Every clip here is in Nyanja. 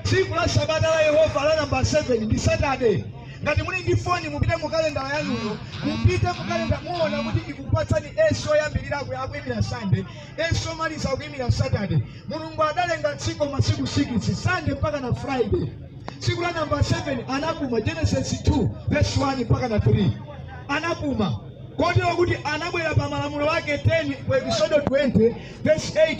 Tsiku la Sabata la Yehova la namba 7 ndi Saturday. Ngati muli ndi foni mupite mu kalenda yanuyo, mupite mu kalenda muona kuti ikupatsani S oyambirira aku- akuimira Sunday, S omaliza akuimira Saturday. Mulungu adalenga tsiku masiku 6, Sunday mpaka na Friday. Tsiku la namba 7 anapuma Genesis 2 verse 1 mpaka na 3. Anapuma. Kotero kuti anabwera pamalamulo ake 10 ku Exodo 20 verse 8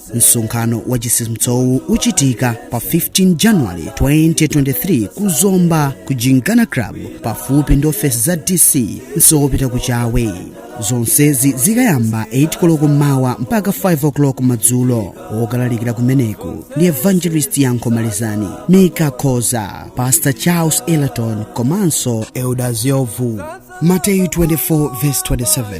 msonkhano wa chitsitsimutsowu uchitika pa 15 january 2023 ku zomba ku gymkhana club pafupi ndi ofesi za dc msewu wopita ku chawe zonsezi zikayamba 8 koloko m'mawa mpaka 5 o'clock madzulo okalalikira kumeneko ndi evangelist yankho malizani mika khoza pastor charles eleton komanso elder ziovu mateyu 24 verse 27